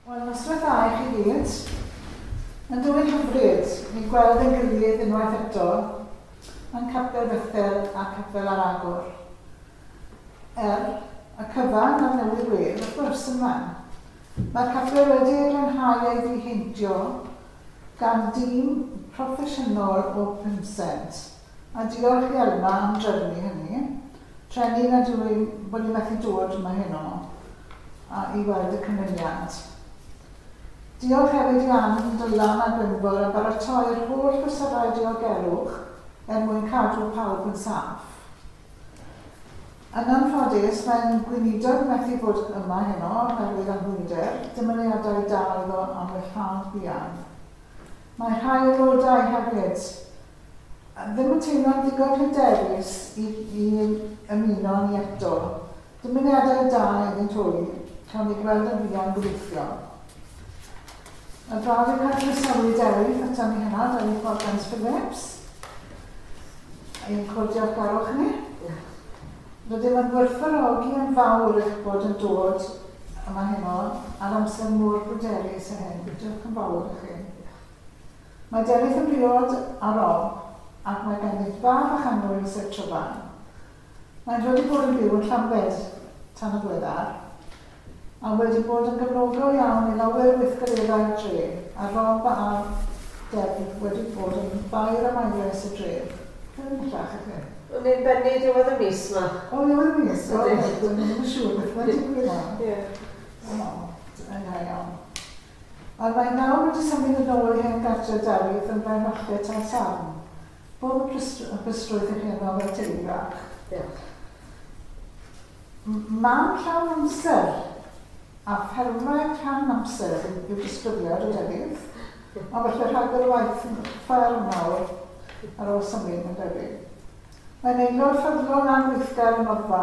Wel, noswaith dda i chi gyd. Yn dwyn hyfryd i gweld ein gilydd unwaith eto yn Capel Bethel a Capel ar Agor. Er, y cyfan ar newydd wedd, wrth gwrs, yn fan. Mae'r capel wedi ei glanhau a'i ddiheintio gan dîm proffesiynol o Pinsent. A diolch i Elma am drefnu hynny. Treni nad yw i'n bod i methu dod yma heno a i weld y cynulliad. Diolch hefyd i Ann, Dylan a Gwynfor am baratoi'r holl fesurau diogelwch er mwyn cadw pawb yn saff. Yn anffodus, mae'n gweinidog methu bod yma heno oherwydd anhwylder, dymuniadau da iddo am wellhad buan. Mae rhai aelodau hefyd Ddim yn teimlo'n ddigon hyderus i i ymuno â ni eto. Dymuniadau da iddynt ŵyr. Cawn eu gweld yn fuan gobeithio. Mae'n braf i'r Cant groesawu Dewi ato ni heno, Dewi Morgans Phillips. Ein cwr diolchgarwch ni. Rydym yn gwerthfawrogi yn fawr eich bod yn dod yma heno ar amser mor bryderus â hyn. Diolch yn fawr i chi. Mae Delyth yn briod a romp ac mae ganddynt fab a chanmlwyn sef Tryfan. Maent wedi bod yn byw yn Llambed tan y gweddar a wedi bod yn gefnogol iawn i lawer o weithgareddau'r dref a romp a Delyth wedi bod yn faer am aeres y dref. Beth am bellach i chi? O'n ni'n bennu diwedd y mis ma. O ddiwedd y mis? O reit, o'n i ddim yn siŵr beth mae'n digwydd nawr. Ie. O, da iawn. Ond mae nawr wedi symud yn ôl i hen gartre Dafydd yn Brenwallet ar Sarn. Pob hapusrwydd hapusrwydd i chi yno fel teulu bach. Diolch. M- mam llawn amser a ffermwraig rhan amser yw disgrifiad o Dafydd, ond falle rhagor o waith yn y fferm nawr ar ôl symud mae'n debyg. Mae'n aelod ffyddlon a gweithgar yn Oddfa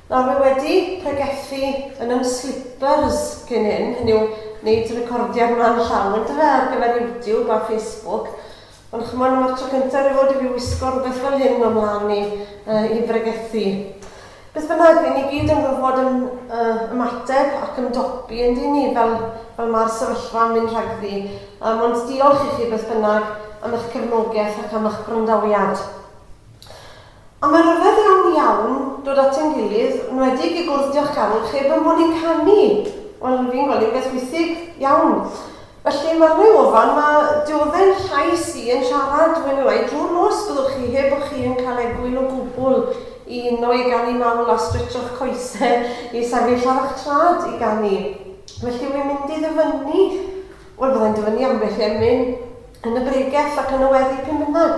Nawr mae wedi pregethu yn ym slippers cyn hyn, hynny yw, wneud recordiad mlan llaw yn dyfe ar gyfer YouTube a Facebook, ond ch'mod dyma'r tro cyntaf erioed i fi wisgo rhywbeth fel hyn o'm mlan i yy i bregethu. Beth bynnag, ry'n ni gyd yn gorfod ym, yy, ymateb ac ymdopi yn dyn ni fel fel ma'r sefyllfa yn mynd rhagddi, yym ond diolch i chi beth bynnag am eich cefnogeth ac am eich gwrandawiad. A mae rhyfedd iawn iawn dod at ein gilydd, enwedig i gwrdd Diolch Carl, cheb ein bod ni'n canu! Wel, fi'n gweld hi'n beth withig iawn. Felly, mae'r ddau ofan 'ma, dyw o ddim llais i yn siarad, mwy neu lai, drwy'r nos, byddwch chi, heb bo' chi yn cael egwyl o gwbl i uno i ganu mawl a stretsho'ch coesau i sefyll ar eich traed i ganu. Felly, wi'n mynd i ddyfynnu. Wel, fydda i'n dyfynnu ambell i emyn yn y bregell ac yn y weddi p'un bynnag.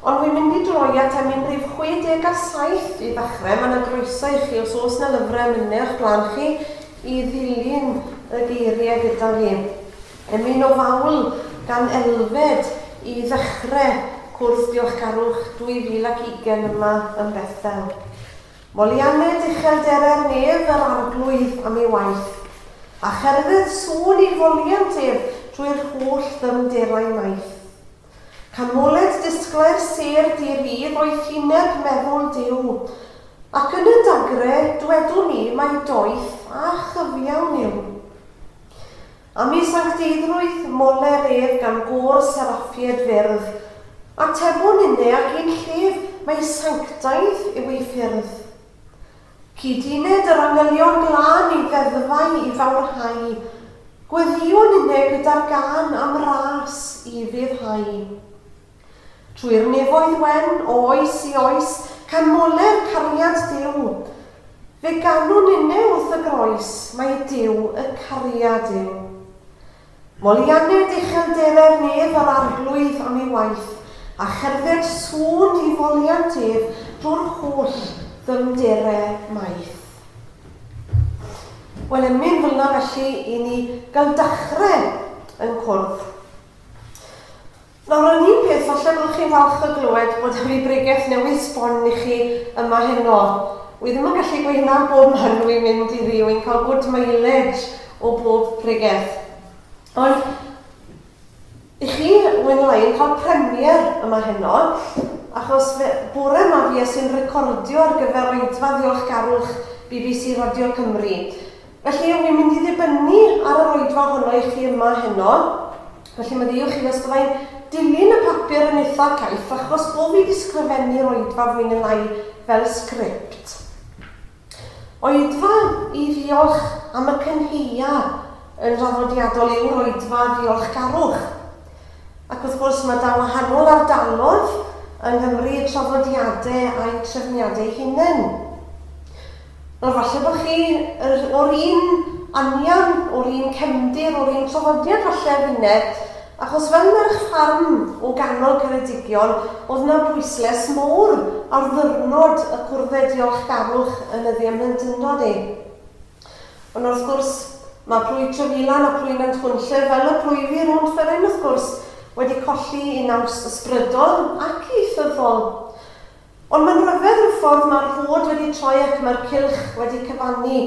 Ond wi'n mynd i droi at emyn rif 67 i ddechrau. Mae 'na groeso i chi, os oes 'na lyfrau emynau o'ch blaen chi, i ddilyn y geiriau gyda fi. Emyn o fawl gan Elfed i ddechrau cwrs Diolchgarwch 2020 yma yn Bethel. Molly Anned uchelderau'r nef yr Arglwydd am ei waith, a cherdded sŵn i foliant ef drwy'r holl ddyfnderau maith. Canmoled disglair sêr di-rydd oedd hyneb meddwl Duw, ac yn y dagre dwedwn ni mai doeth a chyfiawn yw. A mi sancteiddrwyth moler ef gan gôr seraffied fyrdd. Atebwn inne ac un llef mai sanctaidd yw ei ffyrdd. Cyd-uned yr angylion glân ei ddeddfau i fawrhau, gweddïwn inne gyda'r gân am ras i ufuddhau. Trwy'r nefoedd wen, o oes i oes, Canmole'r cariad Duw. Fe ganwn inne wrth y groes, Mai Duw y cariad yw. Molianed uchelderau'r nef Yr Arglwydd am ei waith, A cherdded sŵn i foliant ef Drwy'r holl ddyfnderau maith. Wel, emyn fel 'na felly i ni gael dachrau yn cwrdd. Nawr yr un peth, falle byddwch chi'n falch o glywed bod hynny bregeth newydd sbon i chi yma heno. Wi ddim yn gallu gweud hynna bob man wi'n mynd i fi, wi'n cael good mileage o bob pregeth. Ond i chi, mwy na lai, yn cael premier yma heno, achos fe, bore yma fi es i'n recordio ar gyfer oedfa ddiolchgarwch bbc Radio Cymru. Felly, wn i'n mynd i ddibynnu ar yr oedfa ohono i chi yma heno, felly meddyliwch chi os bydda i'n dilyn y papur yn eitha caeth achos bo fi di sgrifennu'r oedfa fwy ne lai fel sgript. Oedfa i ddiolch am y cynheia yn draddodiadol yw'r oedfa ddiolchgarwch. Ac wrth gwrs mae da wahanol ardalodd yng Nghymru traddodiade a'u trefniade eu hunen. Wel, falle bod chi yr, o'r un anian, o'r un cefndir, o'r un traddodiad falle â finne, achos fel merch ffarm o ganol Ceredigion, oedd 'na bwysles mowr ar ddyrnod y cwrdde diolchgarwch yn y ddiamhlentyndod i. Ond wrth gwrs, mae plwyf Trefilan a plwyf Nantchwynllif, fel y plwyf i rownd Fferin wrth gwrs, wedi colli i naws ysbrydol ac ieithyddol. Ond mae'n rhyfedd y ffordd mae'r rhod wedi troi ac mae'r cylch wedi cyfannu,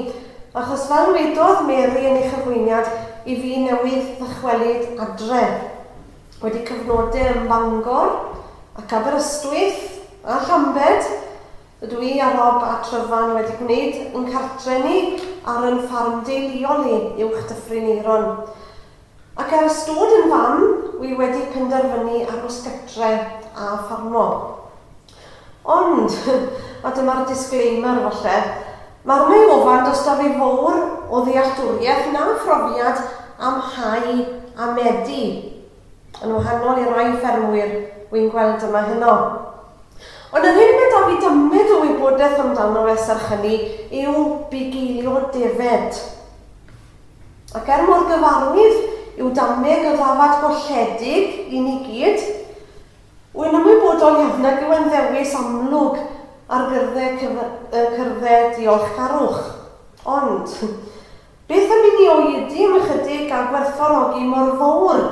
achos fel wedodd Mary yn ei chyflwyniad i fi newydd ddychwelyd adre, wedi cyfnode ym Bangor ac Aberystwyth a Llambed, rydw i a Rob a Tryfan wedi gwneud ein cartre ni ar yn ffarm deuluol i, uwch Dyffryn Aeron. Ac ar ystod yn fam, wi wedi penderfynu aros gytre a ffarmo. Ond, a dyma'r disclaimer falle, ma' arna i ofan does 'da fi fowr o ddealltwriaeth na phrofiad am hau a medi, yn wahanol i rai ffermwyr wi'n gweld yma heno. Ond yr hyn ma' 'da fi dymud o wybodeth amdano fe serch hynny yw bugeilio defaid. Ac er mor gyfarwydd yw damneg y ddafad golledig i ni gyd, wy'n ymwybodol iawn nag yw e'n ddewis amlwg ar gyrdde cyrdde diolchgarwch. Ond, beth am i ni oedi am ychydig a gwerthfawrogi mor fowr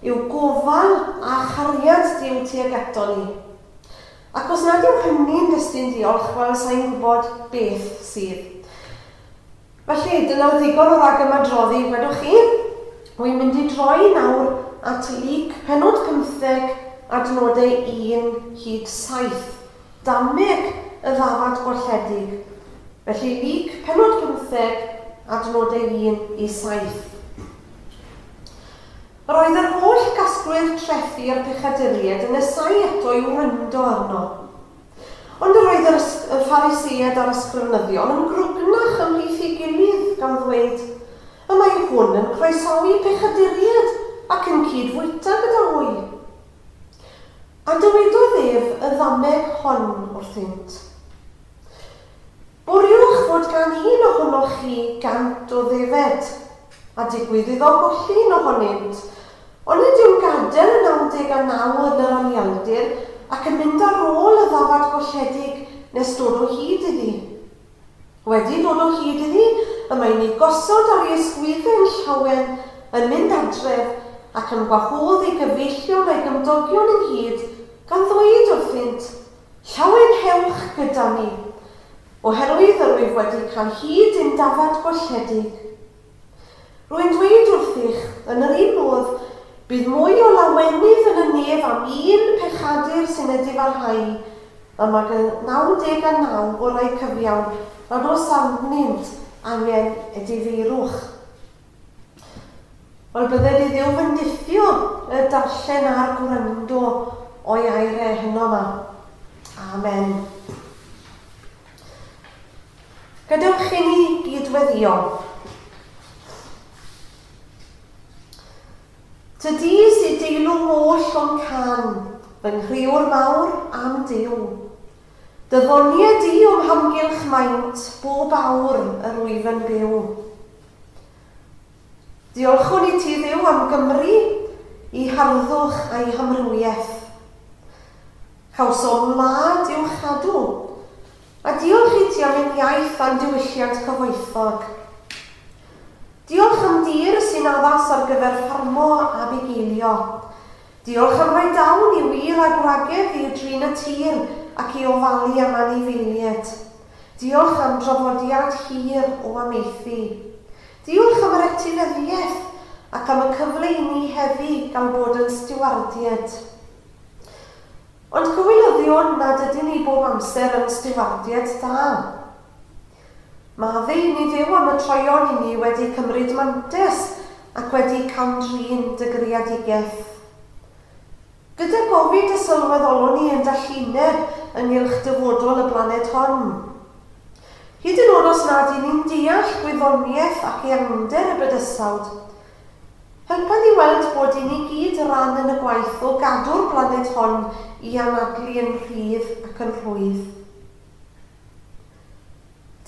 yw gofal a chariad Duw tuag ato ni? Ac os nad yw hynny'n destun diolch, wel, sa i'n gwybod beth sydd. Felly, dyna ddigon o ragymadroddi, gwedwch chi. Wi'n mynd i droi nawr at Luc pennod pymtheg, adnodau un hyd saith. Dameg y ddafad gwalledig. Felly, Luc pennod pymtheg, adnodau un i saith. Yr oedd yr holl gasglwyr trethi a'r pechaduriaid yn nesáu eto i'w wrando arno. Ond yr oedd yr ysg- y Phariseaid a'r Ysgrifenyddion yn grwgnach ymhlith ei gilydd, gan ddweyd, Y mae hwn yn croesawi pechaduriaid, ac yn cyd-fwyta gyda hwy. A dywedodd ef y ddameg hon wrthynt, Bwriwch fod gan un ohonoch chi gant o ddefed, a digwydd iddo golli un ohonynt, ond nid yw'n gadael y 99 yn yr anialdir ac yn mynd ar ôl y ddafad golledig nes dod o hyd iddi. Wedi dod o hyd iddi, y mae'n ei gosod ar ei ysgwyddyn llawen, yn mynd adref, ac yn gwahodd ei gyfeillion a'i gymdogion ynghyd, gan ddweud wrthynt, Llawelhewch gyda ni, oherwydd yr wyf wedi cael hyd i'm dafad golledig. Rwy'n dweud wrthych, yn yr un modd, bydd mwy o lawenydd yn y nef am un pechadur sy'n ei difarhau, am ag y naw deg a naw orau cyfiawn nad oes arnynt angen edifeirwch. Wel, bydde di ddim yn diffio y darllen a'r gwrando o'i aire heno ma. Amen. Gadewch chi ni gydweddio. Tydi sy'n deilwng oll o'n can, fy nghriwr mawr am Dyw. Dyddoniad di o'm hamgylch maint, bob awr yr wyf yn byw. Diolchwn i ti Dduw am Gymru, i harddwch a'i hamrywiaeth. Cawsom wlad i'w chadw, a diolch i ti am ein iaith a'n diwylliant cyfoethog. Diolch am dir sy'n addas ar gyfer ffarmo a bugeilio, Diolch am roi dawn i wir a gwragedd i drin y tir ac i ofalu am anifeilied. Diolch am drafodiad hir o amaethu. Diolch am yr etifeddiaeth ac am y cyfle i ni heddi gael bod yn stiwardied. Ond cywilyddion nad ydyn ni bob amser yn stiwardied da. Ma fi, ni fyw am y troion i ni wedi cymryd mantes ac wedi cam-drin dy greadigaeth. Gyda gofid y sylweddolwn ni yn dallineb ynghylch dyfodol y blaned hon. Hyd yn od os nad i ni'n deall gwyddoniaeth ac eangder y bydysawd. Helpa ni weld bod i ni gyd ran yn y gwaith o gadw'r blaned hon i anadlu yn rhydd ac yn rhwydd.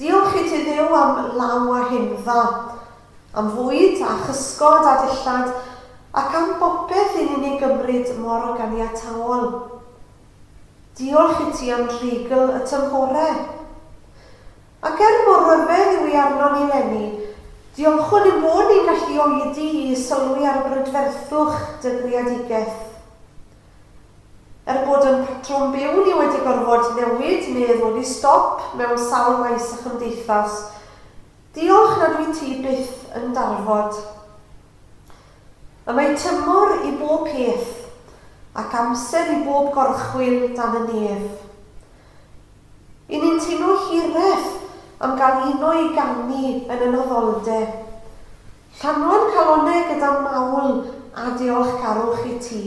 Diolch i ti Dduw am law a hyn dda, am fwyd a chysgod a dillad, ac am bopeth i ni'n ei gymryd mor ganiataol. Diolch i ti am dreigl y tymhore. Ac er mor ryfedd yw hi arnon ni 'leni, diolchwn ein bod ni'n gallu oedi i sylwi ar y brydferthwch dy greadigaeth. Er bod ein patrwm byw ni wedi gorfod newid medd wedi stop mewn sawl maes a chymdeithas. Diolch nad wyt ti byth yn darfod. Y mae tymor i bob peth ac amser i bob gorchwyl dan y nef. I ni'n teimlo hireth am gael uno i ganu yn y noddolde. Llanw'r calonnau gyda mawl a diolchgarwch i ti.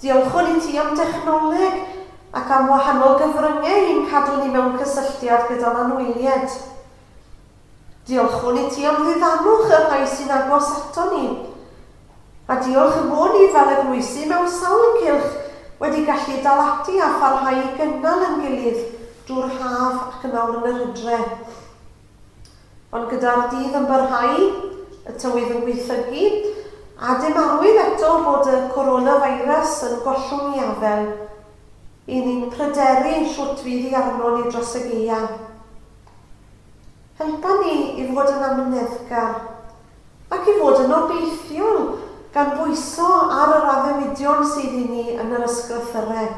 Diolchwn i ti am dechnoleg ac am wahanol gyfryngau i'n cadw ni mewn cysylltiad gyda'n anwyliaid. Diolchwn i ti am ddiddanwch y rhai sy'n agos aton ni. A diolch y bo ni fel eglwysi mewn sawl cylch wedi gallu dal ati a pharhau i gynnal yn gilydd drwy'r haf ac yn awr yn yr hydre. Ond gyda'r dydd yn parhau, y tywydd yn gwaethygu, a dim arwydd eto bod y coronavirus yn gollwng ei afael, y'n ni'n pryderu shwt fydd hi arnon ni dros y gaeaf. Helpa ni i fod yn amyneddgar, ac i fod yn obeithiol, gan bwyso ar yr addewidion sydd i ni yn yr Ysgrythyrau.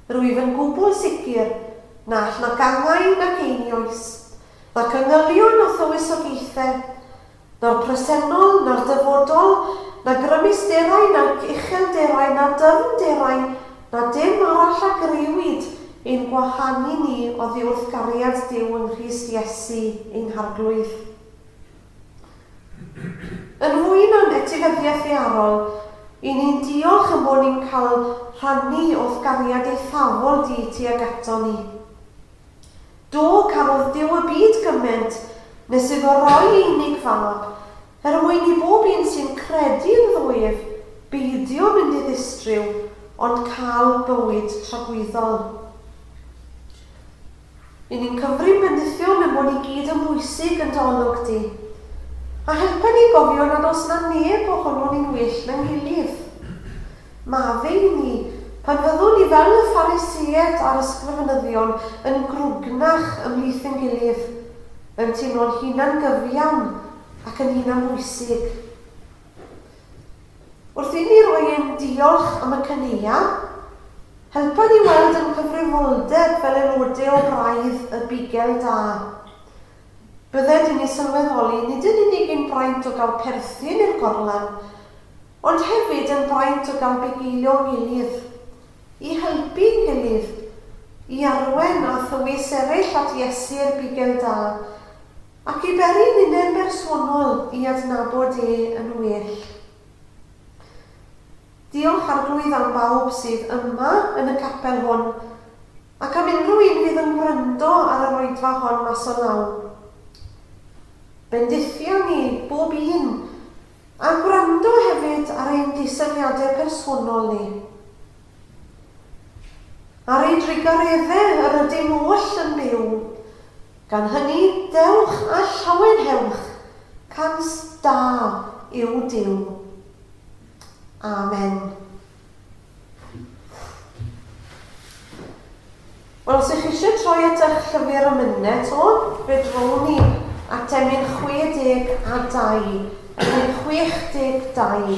Rwyf yn gwbl sicr na all nac angau nac einioes, nac yngylion na thywysogaethau, na'r presennol, na'r dyfodol, na grymusderau, nac uchelderau, na dyfnderau, na dim arall a griwyd ein gwahanu ni oddi wrth gariad Duw yng Nghrist Iesu ein Harglwydd. Yn ŵyn o'n etifeddiaeth ddaearol, i ni'n diolch am bo' ni'n cael rhannu o'th gariad eithafol di tuag ato ni. Do, carodd Duw y byd gyment nes iddo roi ei unig fab, er mwyn i bob un sy'n credu ynddo ef beidio mynd i ddistryw, ond cael bywyd tragwyddol. I ni'n Cymry bendithion y bod i gyd yn bwysig yn dy olwg di. A helpa ni gofio nad oes 'na neb ohonon ni'n well na'n gilydd. Maddau i ni pan fyddwn ni fel y Phariseaid a'r ysgrifenyddion yn grwgnach ymhlith ein gilydd, yn teimlo'n hunan-gyfiawn ac yn hunanbwysig. Wrth inni roi ein diolch am y caneuon, helpa ni weld ein cyfrifoldeb fel aelodau o Braidd y Bugel Da. Bydde dyn ni sylweddoli nid yn unig ein braint o gael perthyn i'r gorlan, ond hefyd ein braint o gael bugeilio'n gilydd, i helpu'n gilydd, i arwain a thywys eraill at Iesu i'r Bugel Da, Ac i beri ninnau'n bersonol i adnabod e yn well. Diolch, Arglwydd, am bawb sydd yma yn y capel hwn, ac am unrhyw un fydd yn gwrando ar yr oedfa hon mas o law. Bendithia ni, bob un, a gwrando hefyd ar ein disylwiadau personol ni. Ar ei drigor efe yr ydym oll yn byw, gan hynny dewch a llawenhewch, cant da yw Duw. Amen. Wel, os ych chi eisiau troi at eich llyfr y myned to, fe drown ni at emyn 62, emyn 62.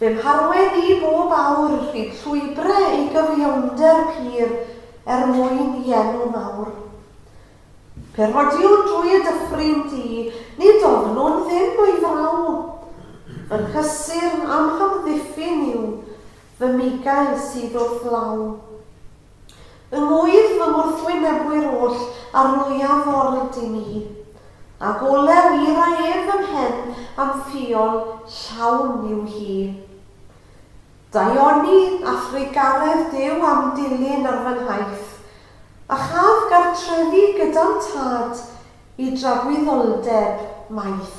Fy mharwedd i bob awr rhy llwybre i gyfiawnder pur er mwyn i enw mawr. Pe rhodiwn drwy y dyffryn di, nid ofnwn ddim o'i fraw. Fy nghysur a'm hamddiffyn yw fy migail sydd wrth law. Yng ngŵyr fy ngwrthwynebwyr oll a rwyaf o'r ydyn ni, Ag olew ira ef fy mhen a'm ffiol llawn yw hi. Daioni a thrugaredd Duw a'm dilyn ar fy nhaith, A chaf gartrefi gyda'm tad i dragwyddoldeb maith.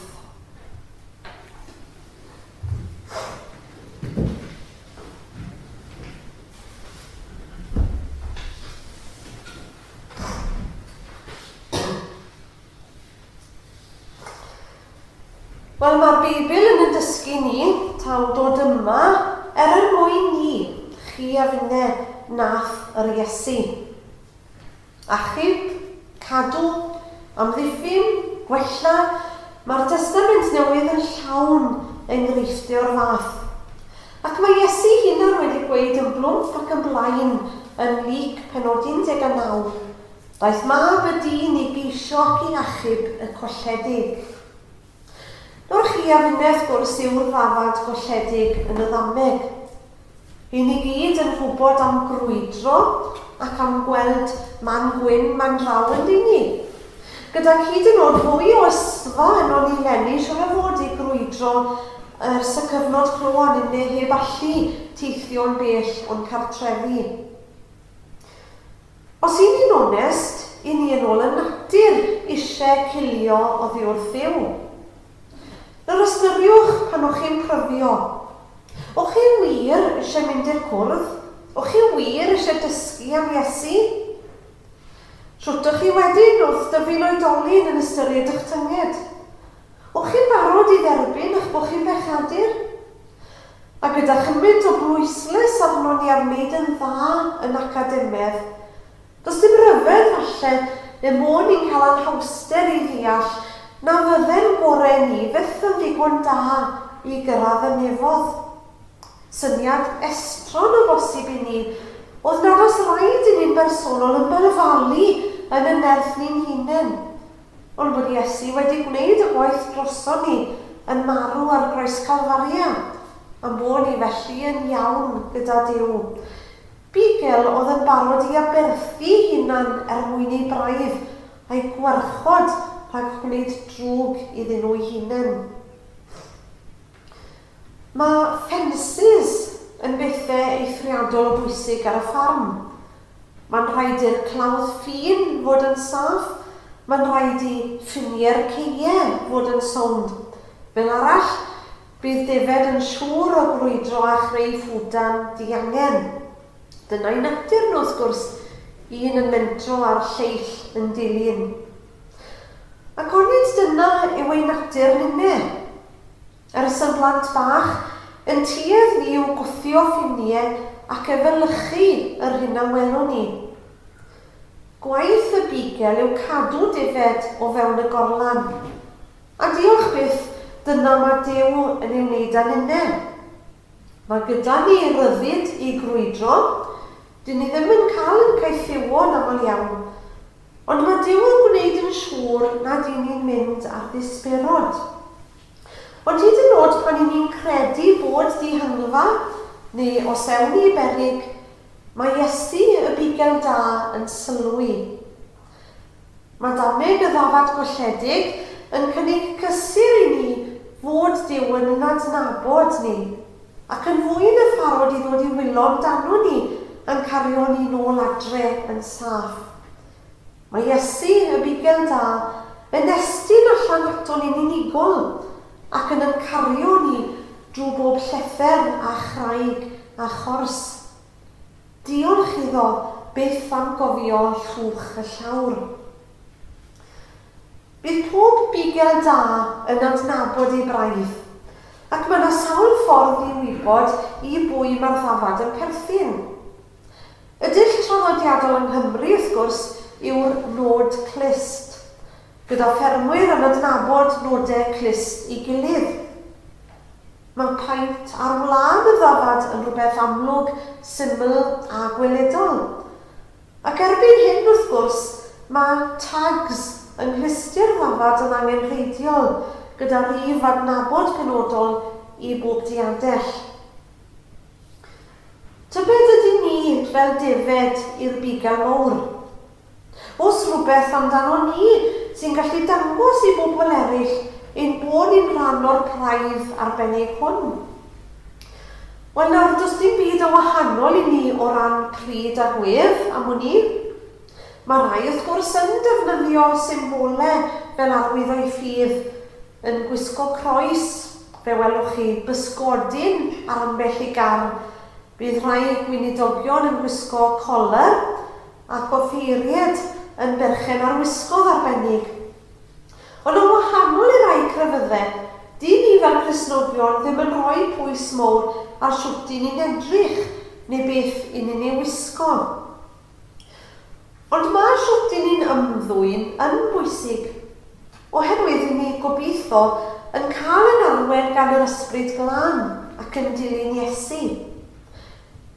Wel, mae'r Beibl yn y dysgu ni taw dod yma er er mwyn ni, chi a finne, nath yr Iesu. Achub, cadw, amddiffyn, gwella, mae'r Testament Newydd yn llawn enghreifftiau o'r fath. Ac mae Iesu'i hunan wedi gweud yn blwmp ac yn blaen yn Luc penod 19, Daeth Mab y dyn i geisio ac i achub y colledig. Nawr chi a finne wrth gwrs yw'r ddafad golledig yn y ddameg. Ry'n ni gyd yn gwybod am grwydro ac am gweld man gwyn man law ynddi ni. Gydag hyd yn o'd fwy o ysddfa ynon ni leni siwr o fod i grwydro ers y cyfnod clo a ninne heb allu teithio'n bell o'n cartrefi. Os y'n ni'n onest, y'n ni yn ôl y natur ishe cilio oddi wrth Dduw. Nawr ystyriwch pan o'ch chi'n pryfio. O'ch chi wir ishe mynd i'r cwrdd? O'ch chi wir ishe dysgu am Iesu? Shwt o'ch chi wedyn wrth dyfu'n oedolyn yn ystyried y'ch tynged? O'ch chi'n barod i dderbyn eich bod chi'n fechadur? A gyda chymint o bwyslais arnon ni ar wneud yn dda yn academedd, does dim rhyfedd falle y môn ni'n cael anhawster i ddeall na fydde'n gorau ni fyth yn ddigon da i gyrraedd y nefoedd. Syniad estron o bosib i ni oedd nad oes raid i ni'n bersonol ymberfalu yn y nerth ni'n hunain, Ond bod Iesu wedi gwneud y gwaith droson ni yn marw ar groes Calfaria, a'n bod ni felly yn iawn gyda Duw. Bugel oedd yn barod i aberthu'i hunan er mwyn ei braidd a'i gwarchod rhag gwneud drwg iddyn nhw'i hunen. Mae ffensys yn bethe eithriadol o bwysig ar y ffarm. Mae'n rhaid i'r clawdd ffin fod yn saff, mae'n rhaid i ffiniau'r ceie fod yn sownd. Fel arall, bydd defaid yn siŵr o grwydro a chreu ffwdan diangen. Dyna'i natur nhw wrth gwrs, un yn mentro a'r lleill yn dilyn. Ac onid dyna yw ein natur ninne? Yr ys yn blant bach, yn tuedd ni yw gwthio ffinie ac efelychu yr hyn a welwn ni. Gwaith y bigel yw cadw defaid o fewn y gorlan. A diolch byth, dyna ma Duw yn ei wneud a ninne. Ma gyda ni ryddid i grwydro, dyn ni ddim yn cael yn caethiwo yn aml iawn, ond ma Duw yn gwneud yn siŵr nad y'n ni'n mynd ar ddisberod. Ond hyd yn nod pan 'y ni'n credu bod dihangfa neu os ewn ni i berig, mae Iesu y Bugel Da yn sylwi. Mae dameg y ddafad golledig yn cynnig cysur i ni fod Duw yn yn adnabod ni, ac yn fwy na pharod i ddod i wylo amdanon ni a'n cario ni nôl adre yn saff. Mae Iesu, y Bugail Da, yn estyn allan aton ni'n unigol ac yn yn cario ni drwy bob llethr a chraig a chors. Diolch iddo byth am gofio llwch y llawr. Bydd pob Bugail Da yn adnabod ei braidd, ac mae 'na sawl ffordd i wybod i bwy mae'r ddafad yn perthyn. Y dull traddodiadol yng Nghymru, wrth gwrs, yw'r nod clust, gyda ffermwyr yn adnabod nodau clust i gilydd. Mae paent ar wlân y ddafad yn rhywbeth amlwg, syml a gweledol. Ac erbyn hyn, wrth gwrs, mae tags yng nglustiau'r ddafad yn angenrheidiol, gyda rhif adnabod penodol i bob diadell. Tybed ydyn ni fel defaid i'r bugail mowr? Oes rhywbeth amdanon ni sy'n gallu dangos i bobl eraill ein bod ni'n rhan o'r praidd arbennig hwn? Wel nawr, does dim byd o wahanol i ni o ran pryd a gwedd, am wn i. Mae rhai wrth gwrs yn defnyddio symbolau fel arwydd o'u ffydd, Yn gwisgo croes, fe welwch chi bysgodyn ar ambell i gar. Bydd rhai gweinidogion yn gwisgo colur ac offeiried yn berchen ar wisgoedd arbennig. Ond yn wahanol i rai crefyddau, dŷn ni fel Cristnogion ddim yn rhoi pwys mowr ar shwt dŷn ni'n edrych neu beth 'yn ni'n ei wisgo. Ond mae shwt i ni'n ymddwyn yn bwysig, oherwydd i ni, gobeithio, yn cael ein arwain gan yr Ysbryd Glân ac yn dilyn Iesu.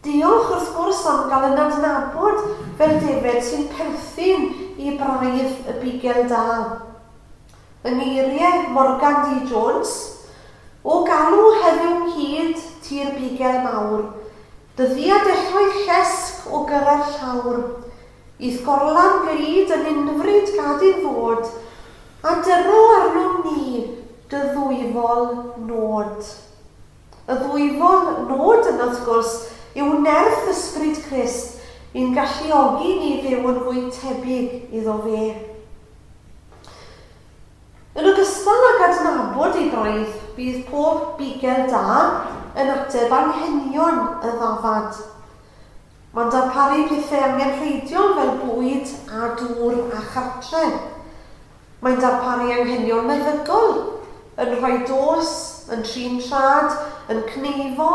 Diolch, wrth gwrs, am gael yn adnabod fel defaid sy'n perthyn i braidd y Bugel Da. Yng ngeiriau Morgan D. Jones, O galw heddiw nghyd ti'r Bugel Mawr, Dyddiau dechrau llesg o gyrra'r llawr. I'th gorlan glyd yn unfryd gad i'n ddod, a dyro arnom ni dy ddwyfol nod. Y ddwyfol nod yna wrth gwrs yw nerth Ysbryd Crist i'n galluogi ni fyw yn fwy tebyg iddo fe. Yn ogystal ag adnabod ei braidd, bydd pob bugel da yn ateb anghenion y ddafad. Mae'n darparu pethau angenrheidiol fel bwyd a dŵr a chartre. Mae'n darparu anghenion meddygol, yn rhoi dos, yn trin traed, yn cneifo,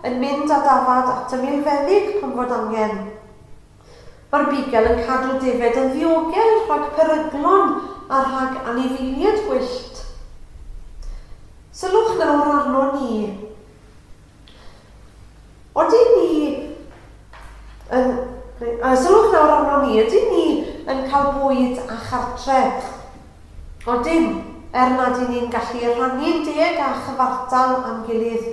yn mynd â dafad at y milfeddyg pan fod angen. Mae'r bugel yn cadw defaid yn ddiogel rhag peryglon a rhag anifeiliaid gwyllt. Sylwch nawr arnon ni. Odyn ni yn... Uh, sylwch nawr arnon ni. Ydyn ni yn cael bwyd a chartre? Odyn, er nad i ni'n gallu rhannu'n deg a chyfartal a'n gilydd.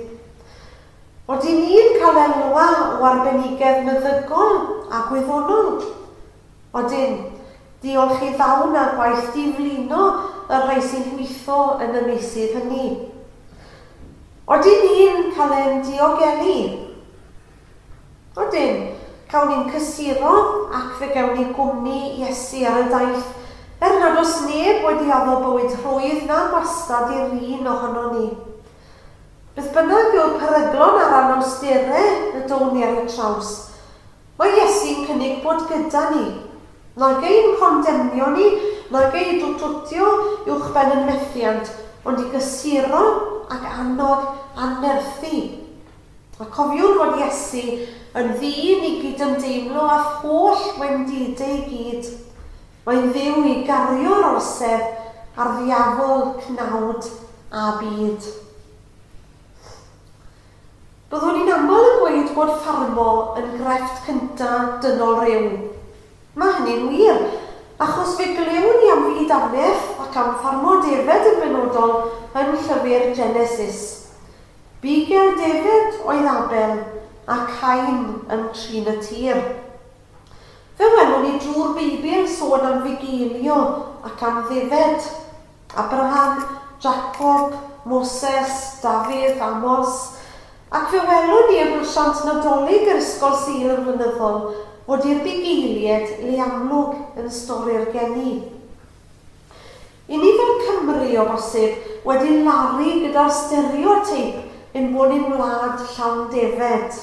Ydyn ni'n cael elwa o arbenigedd meddygol a gwyddonol? Odyn. Diolch i ddawn a gwaith diflino y rhai sy'n gweithio yn y meysydd hynny. Odyn ni'n cael ein diogelu? Odyn. Cawn ni'n cysuro ac fe gewn ni gwmni Iesu ar y daith, er nad oes neb wedi addo bywyd rhwydd na gwastad i'r un ohonon ni. Beth bynnag yw'r peryglon a'r anawsterau y down ni ar eu traws, mae Iesu'n cynnig bod gyda ni. Nag ein condemnio ni, nag ei dwtwtio uwchben yn methiant, ond i gysuro ac annog a nerthu. A cofiwn fod Iesu yn ddyn i gydymdeimlo â'th holl wendidau i gyd. Mae'n dduw i gario'r orsedd a'r ddiafol cnawd a byd. Byddwn ni'n aml yn gweud bod ffarmo yn grefft cynta dynol rhyw. Mae hynny'n wir, achos fe glywn ni am fyd annedd ac am ffarmo defaid yn benodol yn llyfr Genesis. Bu ger defaid oedd Abel a Cain yn trin y tir. Fe welwn ni drwy'r Beibl sôn am fugeilio ac am ddyfed. Abraham, Jacob, Moses, Dafydd, Amos. Ac fe welwn ni yn hasiant Nadolig yr Ysgol Sul yn flynyddol fod i'r bugeiliaid le amlwg yn stori'r geni. I ni fel Cymry, o bosib, wedi laru gyda'r stereoteip ein bod ni'n wlad llawn defed.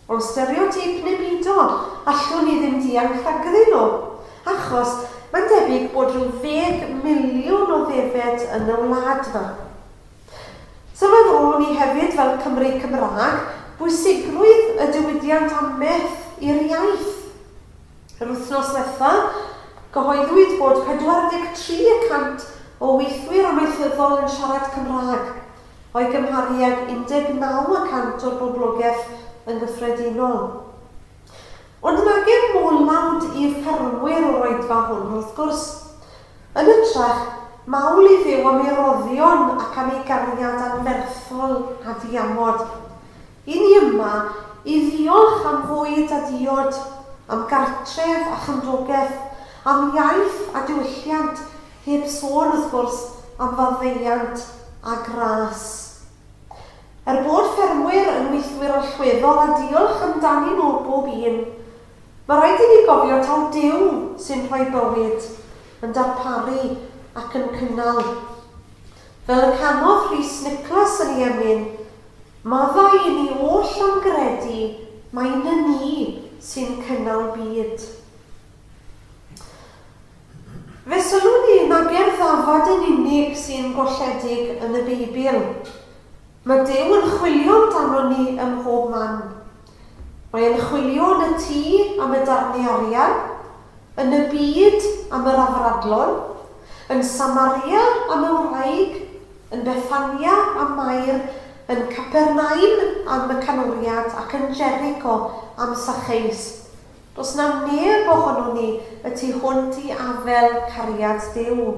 O stereoteip nemidol, allwn ni ddim dianc rhagddyn nhw, achos mae'n debyg bod rhyw ddeg miliwn o ddefed yn y wlad 'ma. Sylweddolwn i hefyd, fel Cymry Cymraeg, bwysigrwydd y diwydiant a meth i'r iaith. Yr wythnos ddiwetha', cyhoeddwyd bod 43 y cant o weithwyr amaethyddol yn siarad Cymraeg. o'i gymharu ag 19 y cant o'r boblogaeth yn gyffredinol. Ond nag yw'r modd laud i'r ffermwyr o'r oedfa hwn, wrth gwrs. Yn hytrach, mawl i Dduw am ei roddion ac am ei gariad anferthol a diamod. I ni yma, i ddiolch am fwyd a diod, am gartref a chymdogaeth, am iaith a diwylliant, Heb sôn, wrth gwrs, am faddeuant a gras. Er bod ffermwyr yn weithwyr allweddol a diolch amdanyn nhw bob un, mae rhaid i ni gofio taw Duw sy'n rhoi bywyd, yn darparu ac yn cynnal. Fel y canodd Rhys Nicholas yn ei emyn, Maddau i ni oll am gredu mai 'ny ni sy'n cynnal byd. Fe sylwn i na bu'r ddafad yn unig sy'n golledig yn y Beibl. Mae Duw yn chwilio amdanon ni ym mhob man. Mae e'n chwilio yn y tŷ am y darnau arian, yn y byd am yr afradlon, yn Samaria am y wraig, yn Bethania am Mair, yn Capernaum am y canwriad ac yn Jericho am Sacheus. Does na neb ohonon ni y tu hwnt i afael cariad Duw.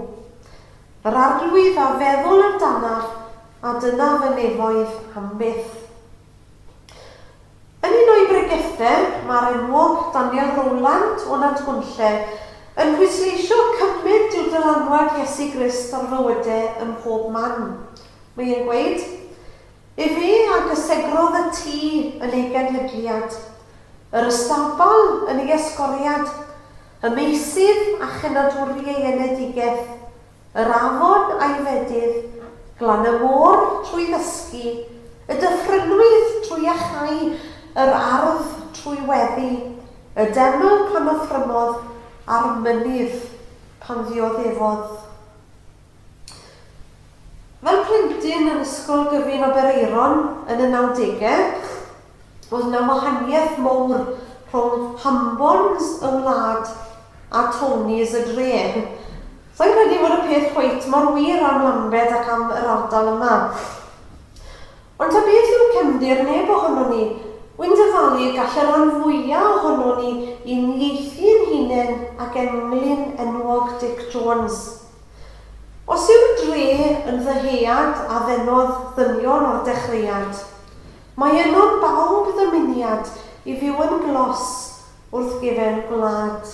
Yr arglwydd a feddwl amdanaf, a dyna fy nefoedd am byth. Yn un o'i bregethau, mae'r enwog Daniel Rowland o Nantgwnlle yn pwysleisio cymaint yw dylanwad Iesu Grist ar fywyde ym mhob man. Mae e'n gweud, Efe a gysegrodd y tŷ yn ei genhedliad, yr ystabal yn ei esgoriad, y meysydd a chenadwri ei enedigeth, yr afon a'i fedydd, glan y môr trwy ddysgu, y dyffrynnoedd trwy iachau, yr ardd trwy weddu, y deml pan offrymodd, a'r mynydd pan ddioddefodd. Fel plentyn yn Ysgol Gyfun Aberaeron yn y nawdegau, oedd yna wahaniaeth mowr rhwng Hambons y wlad a Tony's y dref. Sa i'n credu fod y peth cweit mor wir am Lambed ac am yr ardal yma. Ond ta beth yw'r cefndir, neb ohonon ni. Wi'n dyfalu y gall y rhan fwya' ohonon ni uniaethu ein hunain ag englyn enwog Dic Jones. Os yw'r dre yn ddyhead a ddenodd ddynion o'r dechreuad, mae yno'n bawb ddymuniad i fyw yn glos wrth gefen gwlad.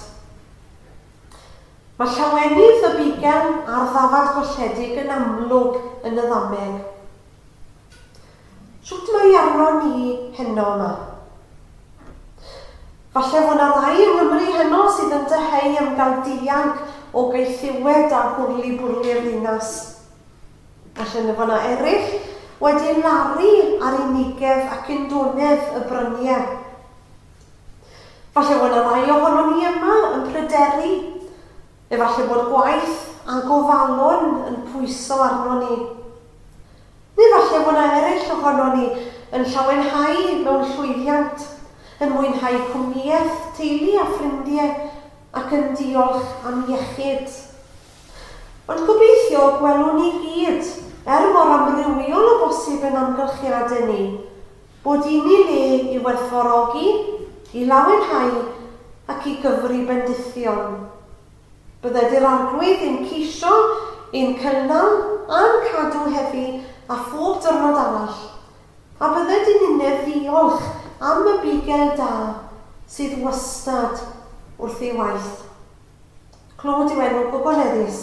Mae llawenydd y bugel a'r ddafad golledig yn amlwg yn y ddameg. Shwt mae arnon ni heno yma? Falle fod 'na rai yng Nghymru heno sydd yn dyheu am gael dianc o gaethiwed a hwrlibwrli'r ddinas. Falle na fo' 'na eryll wedi laru ar unigedd ac undonedd y brynie. Falle fod 'na rai ohonon ni yma yn pryderu, efallai bod gwaith a gofalon yn pwyso arnon ni. Neu falle fod 'na eraill ohonon ni yn llawenhau mewn llwyddiant, yn mwynhau cwmnïaeth teulu a ffrindie ac yn diolch am iechyd. Ond gobeithio y gwelwn ni gyd, er mor amrywiol â bosib ein amgylchiade ni, bod un i le i werthfawrogi, i lawenhau ac i gyfri bendithion. Bydde Dŷ'r Arglwydd yn ceisio ein cynnal a'n cadw heddi a phob diwrnod arall, a bydde dyn ninnau'n ddiolch am y bugel da sydd wastad wrth ei waith. Clod yw enw gwbl neddus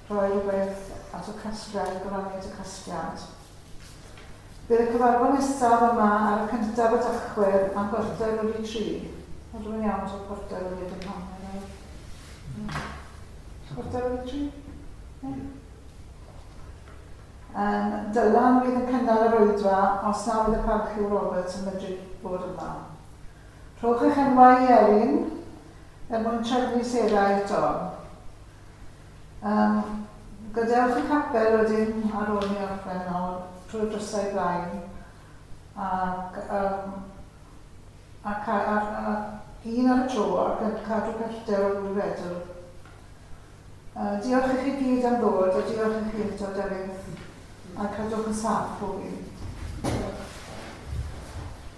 rhoi gwerth at y casgliad a gyfraniad y casgliad. Bydd y cyfarfod nesaf yma ar y cyntaf o Dachwedd am chwarter wedi tri. Ond rwy'n iawn to chwarter wedi dim hanner nawr. Chwarter wedi tri? Yeah. Um, Dylan fydd yn cynnal yr oedfa os na fydd y parch yw Roberts yn medru bod yma. Rhowch eich enwau i Erin er mwyn trefnu serau eto. Yym, gadewch y capel wedyn ar ôl i ni orffen nawr, trwy'r drysau blaen, ac yym, a ca- a a un ar y tro ac yn cadw pellter o ddwy fetr. Yy, diolch i chi gyd am ddod, a diolch i chi eto, Delyth, a cadwch yn saff pob un. Diolch.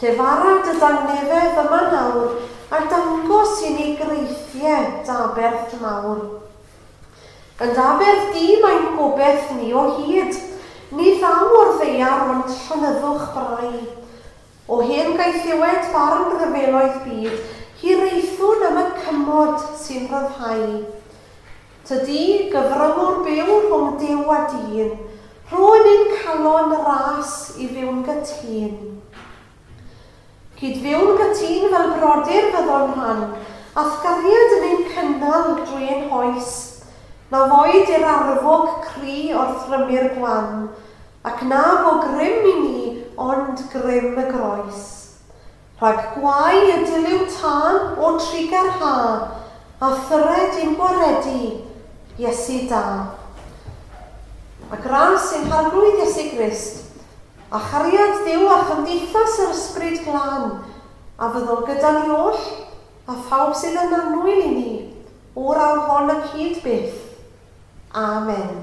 Llefara dy dangnefedd yma nawr, a dangos i ni greithie d'aberth mawr. Yn d'aberth di mae'n gobeth ni o hyd, ni ddaw o'r ddaear ond llonyddwch brai. O hen gaethiwed barn rhyfeloedd byd, hiraethwn am y cymod sy'n rhyddhau. Tydi gyfryngwr byw rhwng Duw a dyn, rhwyn ein calon ras i fyw'n gytun. Cyd-fyw'n gytun fel brodyr fyddon rhan allgariad yn ein cynnal drwy ein hoes, na foed i'r arfog cry o'r thrymu'r gwan, ac na fo grym i ni ond grym y groes. Rhag gwau y dilyw tân o trugar ha, a thyred i'm gwaredu, Iesu da. A gras yng nghargrwydd Iesu Grist, a chariad Duw a chymdeithas yr Ysbryd Glân, a fyddol gyda ni oll, a phawb sydd yn annwyl i ni, o'r awr hon ac hyd byth. Amen.